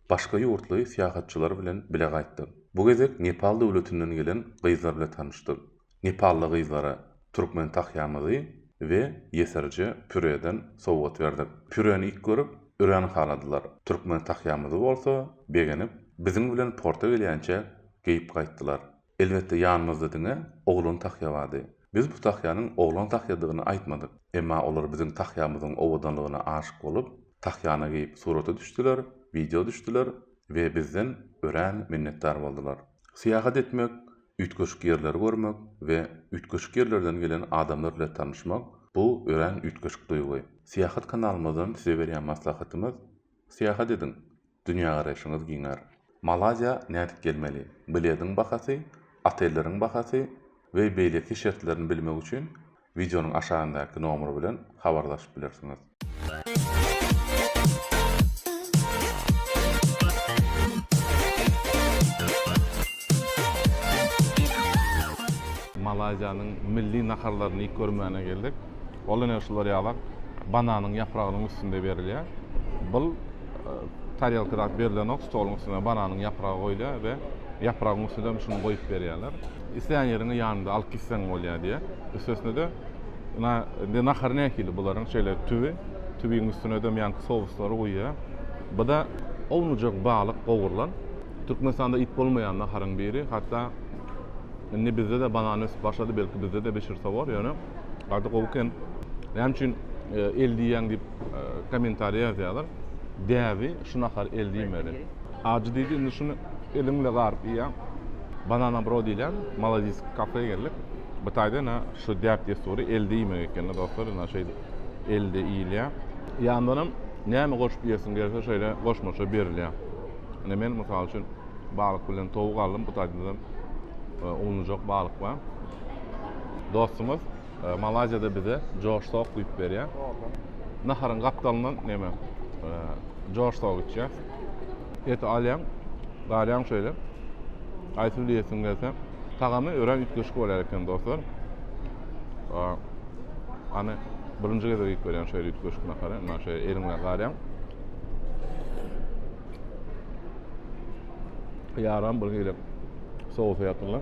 başga ýurtly syýahatçylar bilen bile gaýtdyk. Bu gezek Nepal döwletinden gelen gyzlar bile tanyşdyk. Nepally gyzlara türkmen tahýamyzy we ýesirje püreden sowgat berdik. Püreni ilk görüp, örän haladylar. Türkmen tahýamyzy bolsa begenip, biziň bilen porta gelýänçä geýip gaýtdylar. Elbetde, ýanymyzda diňe oglan tahýa bardy. Biz bu tahýanyň oglan tahýadygyny aýtmadyk. Emma olar biziň tahýamyzyň owadanlygyna aşyk bolup, tahýany geýip surata düşdüler, wideo düşdüler we bizden örän minnetdar boldular. Syýahat etmek Üýtgeşik ýerleri görmek we üýtgeşik ýerlerden gelen adamlar bilen tanyşmak, bu örän üýtgeşik duýgy. Syýahat kanalymyzdan size berýän maslahatymyz, syýahat ediň, dünýägaraýşyňyz giňär. Malaýziýa nädip gelmeli? Biledyň bahasy, otelleriň bahasy we beýleki şertlerini bilmek üçin Wideonyň aşagyndaky nomer bilen habarlaşyp bilersiňiz. Malaýziýanyň milli naharlaryny iýip görmäne geldik. Ol ine şular ýalak bananyň ýapragynyň üstünde berilýär. Bul tarelka zat berilenok, stoluň üstüne bananyň ýapragy goýulýar we ýapragyň üstüne şuny goýup berýärler. Islän ýeriňe ýanyňda alyp gitseň bolýar diýýär. Üstesine-de na indi nahar nähili bularyň şeýle tüwi, tüwiň üstüne dem ýaňky souslary guýýar. Bu-da ownujak balyk gowrulan. Türkmenistanda iýip bolmaýan naharyň biri. Hatda indi bizde-de banan ösüp başlady, belki bizde-de bişirse bor, ýöne ady gowy eken. Näme üçin el diýýäň diýip kommentariýa ýazýarlar. Däbi Şu nahary el diýmeli. Ajy diýdi, indi şuny eliň bile garyp iýýäň. Banana Bro diýilýän malazis kafä geldik. Bu taýda ine şu däp-dessury el diýmek ekeni dostlar, ine şeýdip elde iýilýär. Ýandanam näme goşup iýesiň gelse şeýle goşmaça berilýär. Ine men mysal üçin balyk bilen towuk aldym, bu taýda-da uwunlyjak balyk bar. Dostumyz. E, Malaziýada bize Josh Sok güýç berýär. Naharyň gapdalyndan näme? E, Josh Sok içýär. Eti alýan, garýan şöyle. Aýsy bile ýesin gelse. Tagamy örän üýtgeşik bolýar eken dostlar. E, Ana birinji gezek iýip görýän şöyle üýtgeşik nahary. Ina şöyle eliňle garýan. Ýaram bir hili sowsa ýatyrlar.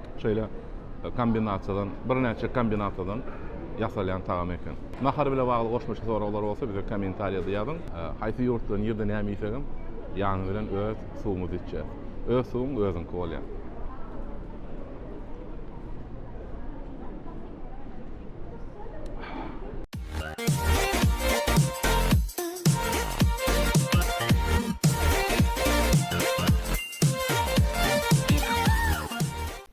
Şeýle kombinasiýadan, birnäçe kombinasiýadan ýasalýan tagam eken. Nahar bilen bagly goşmaça soraglar bolsa bize kommentariýada ýazyň. Haýsy ýurtda nirde näme iýsegem ýany bilen öz suwumyzy içýäs. Öz suwuň özüňki bolýar.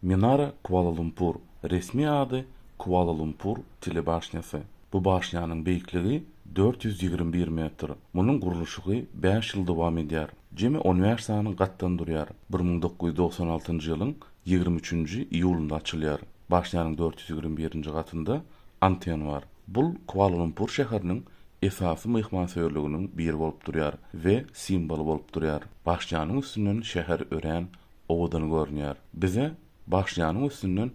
Minara Kuala-Lumpur, resmi ady, Kuala-Lumpur telebaşnýasy. Bu başnýanyň beýikligi dört ýüz ýigrimi bir metr. Munuň gurluşygy bäş ýyl dowam edýär. Jemi on bäş sany gatdan durýar. Bir müň dokuz ýüz dogsan altynjy ýylyň ýigrimi üçünji iýulynda açylýar. Başnýanyň dört ýüz ýigrimi birinji gatynda anten bar. Bul Kuala-Lumpur şäheriniň esasy myhmansöýerliginiň biri bolup durýar we simboly bolup durýar. Bagşyjanyň üstünden şäher örän owadan görünýär. Bize Bagşyjanyň üstünden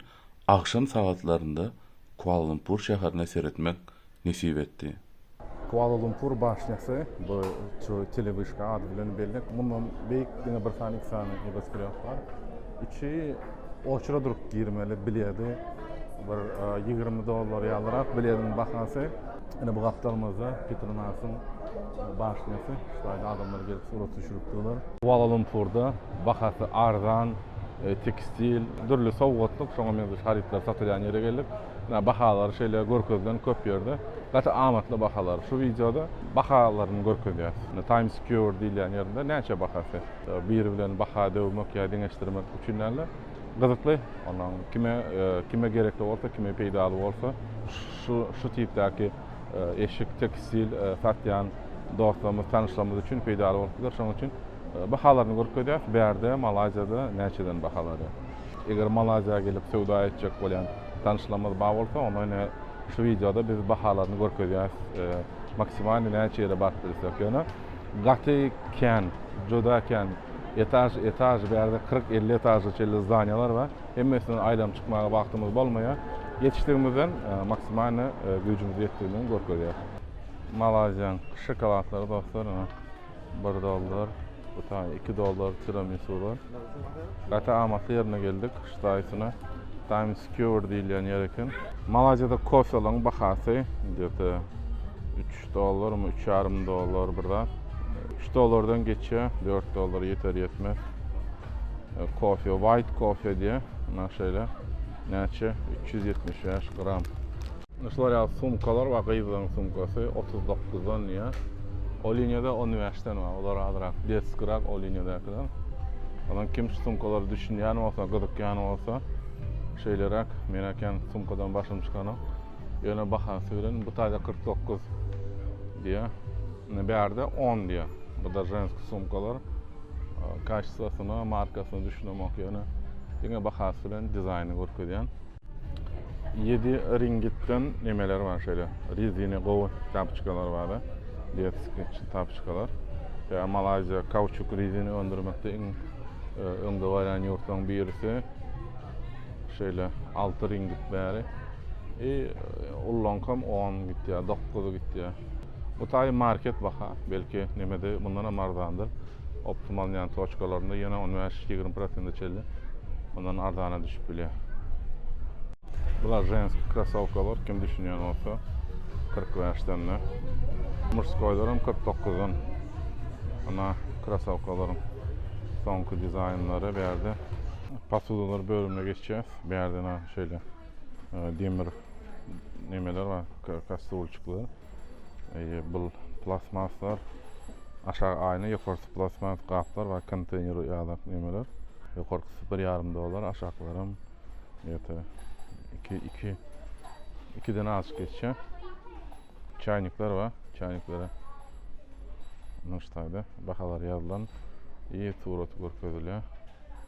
agşam sagatlarynda Kuala-Lumpur şäherine seretmek nesip etdi. Kuala-Lumpur bagşyjasy, bu şu telewyşka ady bilen belli, mundan beýik diňe bir sany, iki sany nebosgreb bar. Üçi. Oçura durup girmeli biledi. Bir 20 e, dollar ýalyrak bilediň bahasy. Ine bu gapdalymyzda Petronasyň başnyýasy. Şulardan adamlar gelip surat düşürip durlar. Kuala Lumpurda bahasy arzan e, tekstil, dürli sowgatlyk, şoňa meňzeş harytlar satylýan ýere geldik. Ine bahalary şeýle görkezilen köp ýerde. Gaty amatly bahalar. Şu wideoda bahalaryny görkezýäs. Ine Times Square diýilýän ýerde näçe bahasy? Biri bilen baha döwmek ýa deňeşdirmek üçin däl-de, gyzykly, ondan kime, kime gerekli bolsa, kime peýdaly bolsa, şu, şu tipdäki eşik, tekstil satýan dostlarymyz, tanyşlarymyz üçin peýdaly bolup biler. Şonuň üçin bahalaryny görkezýäs. Bärde, Malaýziýada näçeden bahalary? Eger Malaýziýa gelip söwda etjek bolýan tanyşlarymyz bar bolsa, onda ine şu wideoda biz bahalaryny görkezýäs. Maksimalnyý näçe ýere baryp bilsek, ýöne Gaty kän, juda kän. Etaž, etaž, bärde kyrk, elli etaža çenli zdaniýalar bar. Hemmesinden aýlanyp çykmaga wagtymyz bolmaýar. Ýetişdigimizden maksimalny güýjümiz ýetdigini görkezýär. Malaýziýanyň şokoladlary dostlar, ine, bir dollar, bu taýy iki dollar, tiramisular. Gaty amatly ýerine geldik. Ştaýsine Times Square diýilýän ýer eken. Malaýziýada kofelaryň bahasy gde-te üç dollarmy, üç ýarym dollar bir zat. Üç dollardan geçýär, dört dollara ýeter-ýetmez. Kofe, white kofe diýýär, mundan şeýle näçe, üç ýüz ýetmiş bäş gram. Ine şular ýaly sumkalar bar, gyzlaryň sumkasy otuz dokuzdan diýýär. O liniýada on bäşden bar, olar azrak detskirak o liniýadakylar. Ondan kim şu sumkalara düşünýän bolsa, gyzykýan bolsa, şeýleräk, men äkem sumkadan başym çykanok. Ýöne bahasy bilen bu taýda kyrk dokuz diýýär. Ine bärde on diýýär. Bu-da ženski sumkalar. Kaçestwasyna, markasyna düşünemok ýöne diňe bahasy bilen dizaýny görkezýän. Ýedi ringitden nemeler bar şeýle. Rezine gowy tapçkalar bar. Detski tapçkalar. Ýa Malaýziýa kauçuk rezini öndürmekde iň e, öňde barýan ýurtlaryň birisi. Şeýle 6 ringit bäri. E, ullankam 10 gitýär, 9 gitýär. Bu taý market baha, belki nemede mundan hem arzandyr. optimal ýan toçkalarynda ýene on bäş ýigrimi prosente çenli mundan arzana düşüp bilýär bular женский krossowkalar kim düşünýän bolsa kyrk bäşden de murskoýlar hem kyrk dokuzdan ana krossowkalaryň soňky dizaýnlary bu ýerde posudalar bölümine geçýäs bu ýerde şeýle e, demir nemeler bar kastrulçyklar bul plastmaslar aşagy aýna ýokarsy plastmas gaplar we konteýner ýadak nemeler ýokarsy bir ýarym dollar aşaklaram ýete iki iki ikiden az geçýä çaýnikler we çaýniklere nuştaýda bahalar ýazylan i surat görkezilýär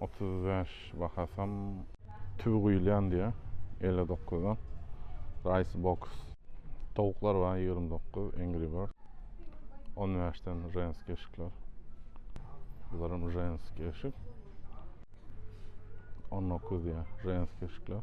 otuz bäş bahasam. Tüwi guýulýan diýýär, elli dokuzda Rice Box. Towuklar bar, ýigrimi dokuz, Angry Bird. On bäşden Ženskiý eşikler. Bularam Ženskiý eşik. On dokuz diýýär, Ženskiý eşikler.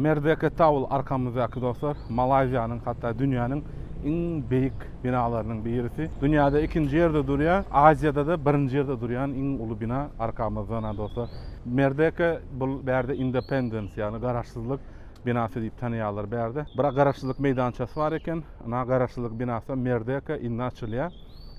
Merdeka Tower arkamyzdaky dostlar, Malaýziýanyň hatda dünýäniň iň beýik binalarynyň birisi. Dünýäde ikinji ýerde durýar, Aziýada-da birinji ýerde durýan iň uly bina arkamyzda dostlar. Merdeka bul bärde Independence, ýagny garaşsyzlyk Binasy diýip tanaýarlar bärde. Bira garaşsyzlyk meýdançasy bar eken. Ynha garaşsyzlyk binasy Merdeka indi açylýar.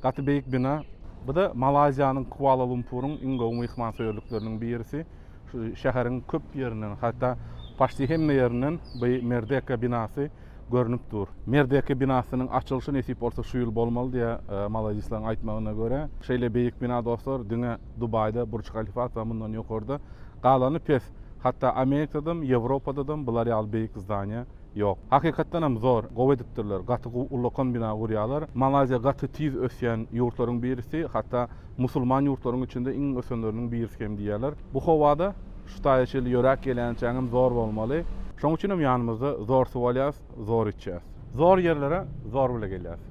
Gaty beýik bina. Bu-da Malaýziýanyň Kuala-Lumpuryň iň gowy myhmansöýerlikleriniň birisi. Şu şäheriň köp ýerinden, hatda paçti hemme ýerinden bu Merdeka binasy görnüp dur. Merdeka binasynyň açylyşy nesip bolsa şu ýyl bolmaly diýýär malaýzisleň aýtmagyna görä. Şeýle beýik bina dostlar diňe Dubaýda Burç Halifat bar mundan ýokarda. Galany pes. Hatda Amerikadam, Ýewropadadam bular ýaly beýik zdaniýa ýok. Hakykatdanam zor, gowy edipdirler. Gaty gowy ullakan bina gurýarlar. Malaýziýa gaty tiz ösýän ýurtlaryň birisi, hatda musulman ýurtlaryň içinde iň ösenleriniň birisi hem diýýärler. Bu howada şu taýa çenli ýöräp gelýänçäňem zor bolmaly. Şonuň üçinem ýanymyzda zor suw alýarys. zor içýäs. Zor ýerlere zor bile gelýäs.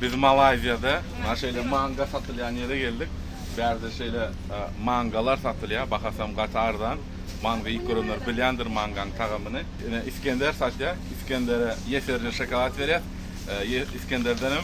Biz Malaýziýada mana şeýle manga satylýan ýere geldik. Bärde şeýle mangalar satylýar. Bahasam gaty arzan. Manga iýip görenler bilýändir mangaň tagamyny. Ine Iskender satýar. Iskendere ýeserje şokolad berýäs. Iskenderdenem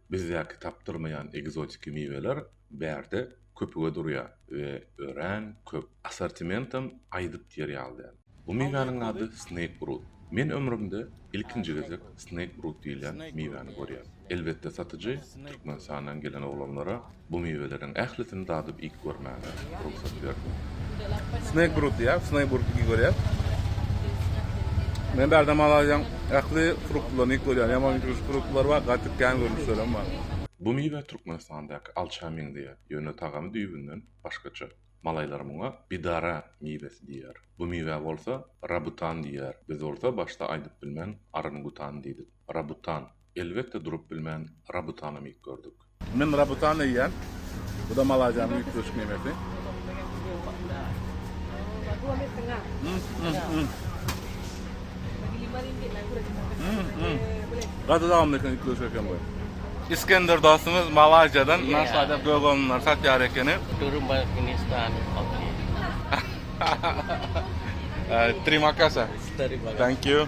Bizdäki tapdyrmaýan ekzotiki miweler bärde köpüge durýar we örän köp. Assortimentam aýdyp diýer ýaly däl. Bu miwäniň ady Snake Brut. Men ömrümde ilkinji gezek Snake Brut diýilýän miwäni görýän. Elbetde satyjy Türkmenistandan gelen oglanlara Bu miweleriň ählisini dadyp iýip görmäge rugsat berdi. Snake brut diýýär, snake brut iýip görýär. Men bärde Malaýziýaň ähli fruktlaryny iýip görýän. Ýaman ýüzügi fruktlary bar, gaty kän görnüşlerem bar. Bu miwe Türkmenistandaky alça meňzeýär, ýöne tagamy düýbünden başgaça. Malaýlar muňa bidara miwesi diýýär. Bu miwä bolsa rabutan diýýär, biz bolsa başda aýdyp bilmän arangutan diýdik. Rabutan. Elbetde durup bilmän Rabutana mik gördük. Men Rabutany iýýän. Bu-da Malaziýanyň üýtgeşik memesi. Gaty dawamly eken üýtgeşik eken bu. Iskender dostumyz Malaziýadan naşada doganlary satýar ekeni. Durun baý Hindistan. Trimakasa. Thank you.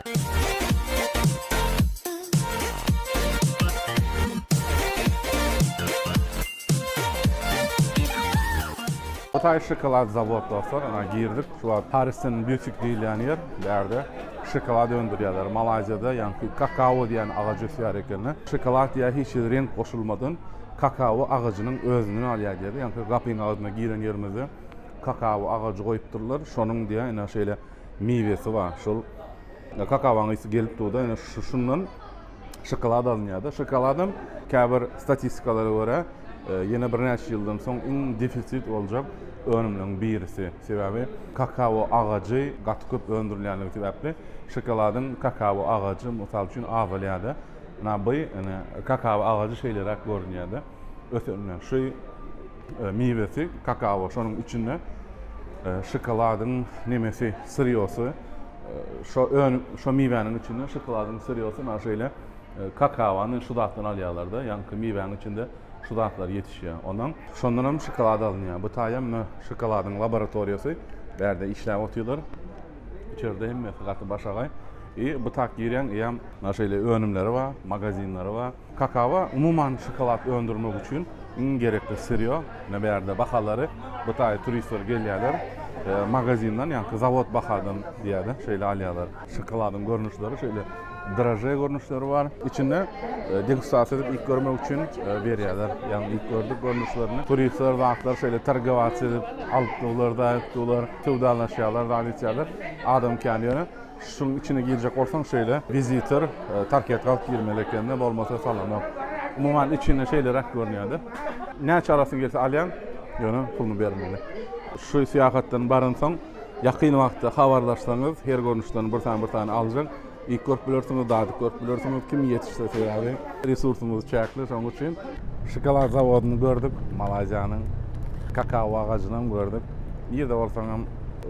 Hytaý şokolad zawod dostlar, ana girdik. Şu wagt Parisden bütik diýilýän ýer. Bu ýerde şokolad öndürýärler. Malaýziýada ýaňky kakao diýen agaç ösýär ekeni. Şokolad ýa hiç hili reňk goşulmadan kakao agajynyň özünden alýar diýdi. Ýaňky gapyň agzyna giren ýerimizde kakao agajy goýupdyrlar. Şonuň diýýär, ine şeýle. miwesi bar. Şol kakawaň ysy gelip durda, ýöne şundan şokolad alynýarda. Şokoladam käbir statistikalara görä, e, ýene birnäçe ýyldan soň iň defisit boljak önümleriň birisi. Sebäbi kakawo agajy gaty köp öndürilýänligi sebäpli şokoladyň kakawo agajy mysal üçin azalýarda. Na by, ine, kakawo agajy şeýleräk görünýärde. ösenden şu miwesi kakao şonuň içinde şokoladyň nemesi syrýosy şo ön şo miwäniň içinde şokoladyň syrýosy na şeýle kakaony şu zatdan alýarlarda ýaňky miwäniň içinde şu zatlar ýetişýär ondan şondan hem şokolad alynýar bu taýa mne şokoladyň laboratoriýasy bärde işläp otyrlar içerde hemmesi gaty başagaý i bu tak girýäň ýa na şeýle önümleri bar magazinleri bar Kakawa umuman şokolad öndürmek üçin iň gerekli syrýo. Ine bärde bahalary bu taýy turistler gelýärler. Magazindan ýaňky zawod bahadan diýýärdi. Şeýle alýarlar. Şokoladyň görnüşleri şeýle draže görnüşleri bar. Içinde degustasiýa edip iýip görmek üçin berýärler. Ýagny iýip gördük görnüşlerini. Turistler zatlar şeýle torgowatsia edip alyp durlar, daýyp durlar, söwdalaşýarlar, zat içýärler. Adam kän ýöne. Şuň içine girjek bolsaň şeýle visitor tarket galyp girmeli ekende bolmasa salanok. Umuman içine şeýleräk görünýäde. Näçe alasyn gelse alýaň ýöne puluny bermeli. Şu syýahatdan baransoň ýakyn wagtda habarlaşsaňyz her görnüşden bir sany bir sany aljak. Iýip görüp bilersiňiz dadyp görüp bilersiňiz kim ýetişse sebäbi resursymyz çäkli şoň üçin. Şokolad zawodyny gördük Malaýziýanyň. Kakao agajynam gördük. Nirde bolsaňam.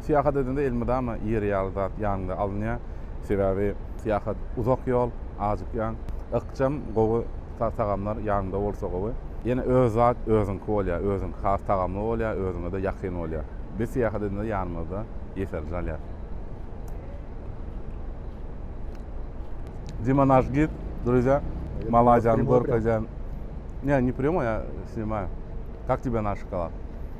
Syýahat edende elmydama ýer ýaly zat ýanyňda alynýar. Sebäbi syýahat uzak ýol, ajykýaň. Ykjam, gowy tagamlar ýanyňda bolsa gowy. Ýene öz zat özüňki bolýar, özüňki has tagamly bolýar, özüňe-de ýakyn bolýar. Biz syýahat edende ýanymyzda ýeserje alýarys. Dima naş gid, druzýa, Malaýziýany görkezýän. Ne, ne prýomoý, a snimaju. Kak tebe naş şokolad?